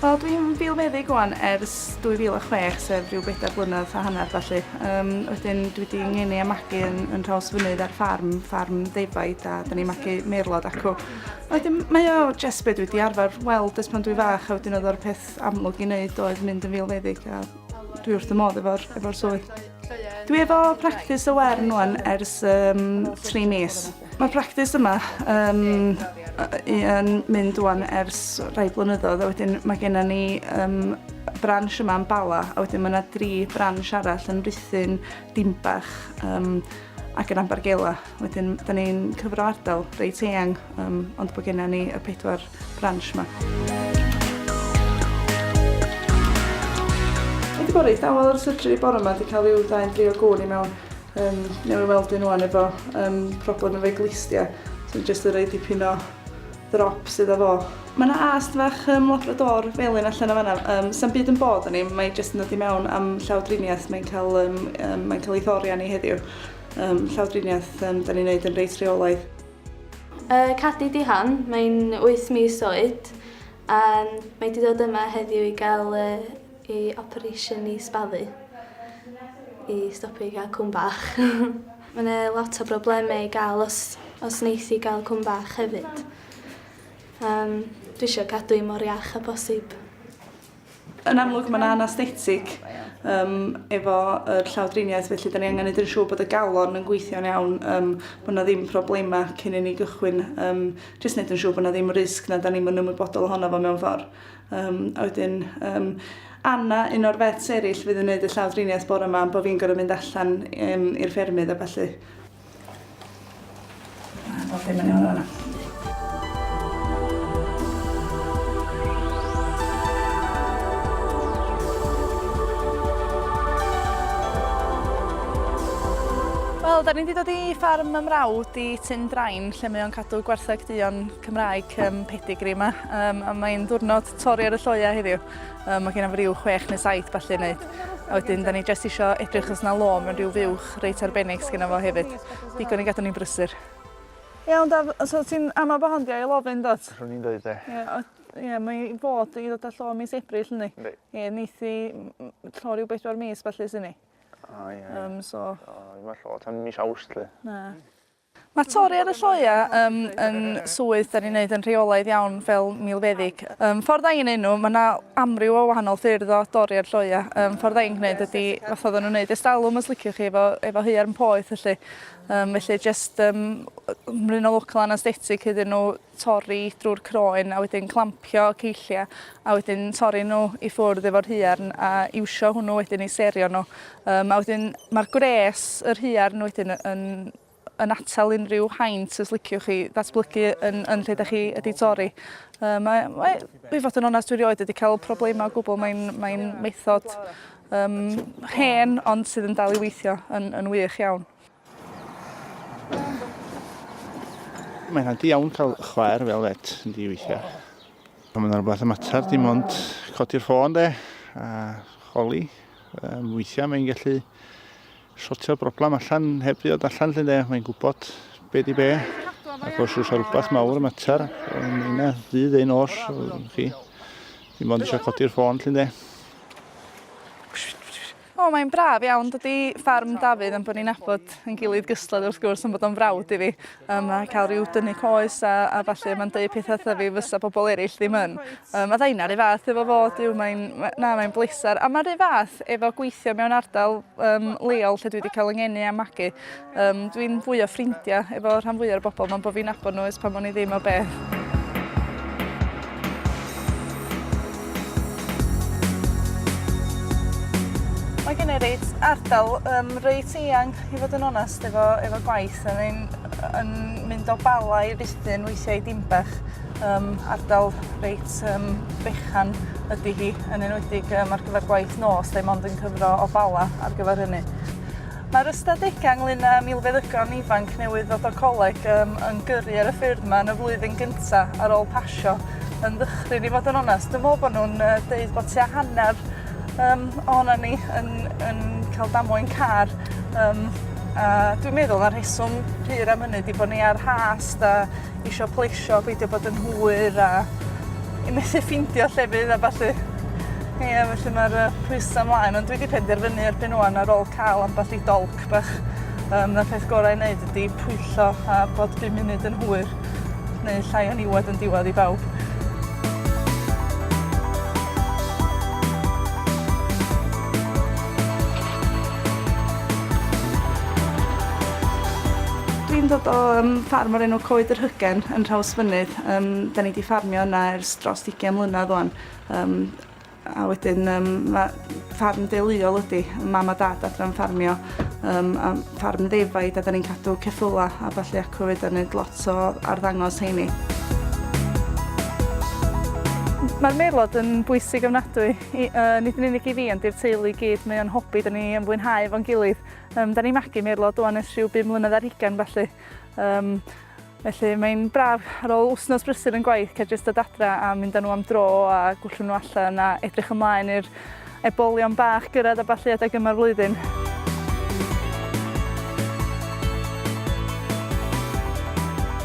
Wel dwi'n filfeddyg wan ers 2006 sef rhyw bedair blynedd a hanner felly. Um, wedyn dwi wedi ngeni a magu yn, yn rhaws fynydd ar ffarm, ffarm ddefaid a da ni'n magu meirlod acw. Wedyn mae o jes beth dwi wedi arfer weld ys pan dwi fach a wedyn oedd o'r peth amlwg i wneud oedd mynd yn filfeddyg a Dwi wrth y modd efo'r efo swydd. Dwi efo practis y wern wan ers um, tri mis. Mae'r practis yma um, yn mynd wan ers rhai blynyddoedd a wedyn mae gennym ni um, branch yma yn Bala a wedyn mae yna dri branch arall yn Ruthin, Dimbach um, ac yn Ambargela. Wedyn, da ni'n cyfro ardal reit eang, um, ond bod gennym ni y pedwar branch yma. Wedi bod reit dawel ar syrtri bore yma, wedi cael i'w ddain drio gwn i mewn. Um, newydd weld un o'n efo um, problem efo'i glistia, sy'n so, jyst yn rhaid dipyn o ddrop sydd efo. Mae yna ast fach um, labrador felyn allan o fanna. Um, Sa'n byd yn bod yn ei, mae'n jyst yn dod i mewn am llawdriniaeth, mae'n cael, um, um, mae'n cael ei thori arni heddiw. Um, llawdriniaeth, um, da ni'n neud yn reit rheolaidd. Uh, Cadi Dihan, mae'n 8 mis oed, a mae wedi dod yma heddiw i gael uh, ei operation i sbalu, i stopio i gael cwm bach. Mae yna lot o broblemau i gael os, os wneith i gael cwm bach hefyd. Um, dwi eisiau cadw i mor iach a bosib. Yn amlwg mae'n anaesthetig um, efo yr llawdriniaeth, felly da ni angen edrych siŵr bod y galon yn gweithio'n iawn, um, bod yna ddim problemau cyn i ni gychwyn, um, jyst wneud yn siŵr bod yna ddim risg na da ni'n mynd ymwybodol ohono fo mewn ffordd. Um, a wedyn, um, Anna, un o'r fets eraill fydd yn gwneud y llawdriniaeth bore yma, bod fi'n gorfod mynd allan um, i'r ffermydd a falle. Bob dim yn iawn fan'na. Wel, 'dan ni 'di dod i ffarm 'y mrawd i Tyn Drain lle mae o'n cadw gwartheg duon Cymraeg yym pedigree 'ma yym a mae'n ddiwrnod torri ar y lloea heddiw. Yym ma' genna fo ryw chwech neu saith ballu i neud. A wedyn 'dan ni jyst isio edrych os 'na lôn mewn ryw fuwch bach reit arbennig sgynno fo hefyd. Digon i gadw ni'n brysur. Iawn Daf, so ti'n ama bo hon di ail ofyn dot? Rwy'n i'n dweud e. Ie, o- ie, mae i fod i ddod â llo mis Ebrill yndi? Yndi. Ie, neith i m- m- llo rhyw bedwar mis felly sy'n ni. O ie. Yym so... O, mae llo tan mis Awst lly. Na. Mae torri ar y lloeau ym yn swydd dan ni'n neud yn rheolaidd iawn fel milfeddyg. Ym ffordd ai'n neud nhw, mae yna amryw o wahanol ffyrdd o dorri ar lloeau. Ym ffordd ai'n gneud ydi, fatha oedden nhw'n neud estalwm os liciwch chi, efo efo haearn poeth felly. Ym felly jyst ym mryn o local anaesthetig iddyn nhw, torri drwy'r croen a wedyn clampio ceilliau a wedyn torri nhw i ffwrdd efo'r huarn a iwsio hwnnw wedyn i serio nhw. Um, a wedyn mae'r gwres, yr huarn wedyn yn, yn atal unrhyw haint os liciwch chi ddatblygu yn, yn lle da chi ydi torri. Um, mae, mae, i fod yn onest dwi rioed wedi cael problemau o gwbl, mae'n mae method um, hen ond sydd yn dal i weithio yn, yn wych iawn. Mae'n handi iawn cael chwaer fel et yn di weithiau. Pan mae'n rhywbeth y mater, dim ond codi'r ffôn de, a choli. Um, weithiau mae'n gallu sortio'r broblem allan heb ddiod allan lle de, mae'n gwybod be di be. Ac os oes rhywbeth mawr y mater, yn yna ddydd ein os, chi, dim ond eisiau codi'r ffôn lle de. O mae'n braf iawn dydi ffarm Dafydd am bod ni'n nabod yn gilydd gysled wrth gwrs am bod o'n frawd i fi um, a cael rhyw dynnu coes a, a falle mae'n dweud pethau wrtha fi fysa pobl eraill ddim yn. Um, a ddain ar ei fath efo fo, dyw mae'n, na mae'n bleser. A mae'r ei fath efo gweithio mewn ardal um, leol lle dwi wedi cael yngeni a magu. Um, dwi'n fwy o ffrindiau efo rhan fwy o'r bobl mae'n bod fi'n agor nhw ys pan o'n i ddim o beth. Mae gen i reit ardal um, reit eang i fod yn onest efo, efo gwaith. Yn, ein, yn mynd o bala i ruthin weithiau dimbach. Um, ardal reit um, fechan ydy hi, yn enwedig um, ar gyfer gwaith nos, lle mond yn cyfro o bala ar gyfer hynny. Mae'r ystadegau ynglŷn â milfeddygon ifanc newydd ddod o coleg um, yn gyrru ar y ffyrdd yma yn y flwyddyn gyntaf ar ôl pasio yn ddychryn i fod yn onest. Dwi'n meddwl bod nhw'n uh, deud bod tua hanner um, ohono ni yn, yn cael damwain car. Um, a dwi'n meddwl na rheswm pur am hynny di bod ni ar has da isio pleisio, peidio bod yn hwyr a i methu ffeindio llefydd a ballu. Ie, felly mae'r uh, pwysa mlaen, ond dwi wedi penderfynu erbyn o'n ar ôl cael ambell i dolc bach. Um, na peth gorau i wneud ydy pwyllo a bod 5 munud yn hwyr, neu llai o niwed yn diwedd i bawb. Dwi'n dod o yym ffarm o'r enw Coed yr Hygen yn Nhrawsfynydd. Yym 'dan ni 'di ffarmio yna ers drost ugian mlynadd ŵan. Yym a wedyn yym ma' ffarm deuluol ydi. Mam a dad adre'n ffarmio yym a ffarm ddefaid a 'dan ni'n cadw ceffyla a ballu acw 'fyd a neud lot o arddangos rheini. Ma'r merlod yn bwysig ofnadwy I, yy, nid yn unig i fi ond i'r teulu i gyd, mae o'n hobi, 'dan ni yn fwynhau efo'n gilydd. Yym, 'dan ni'n magu Merlod ŵan ers rhyw bum mlynedd ar hugain felly. Yym, felly mae'n braf ar ôl wsnos brysur yn gwaith cael jyst dod adra a mynd â nhw am dro a gwllwng nhw allan a edrych ymlaen i'r ebolion bach gyrraedd a ballu adeg yma'r flwyddyn.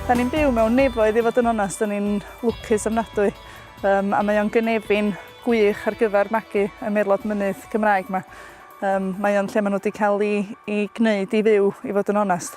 Da ni'n byw mewn nefoedd i fod yn onest, da ni'n lwcus ofnadwy. Yym a mae o'n gynefin gwych ar gyfer magu y merlod mynydd Gymraeg 'ma. Yym mae o'n lle ma' nhw 'di ca'l 'u 'u gneud i fyw i fod yn onest.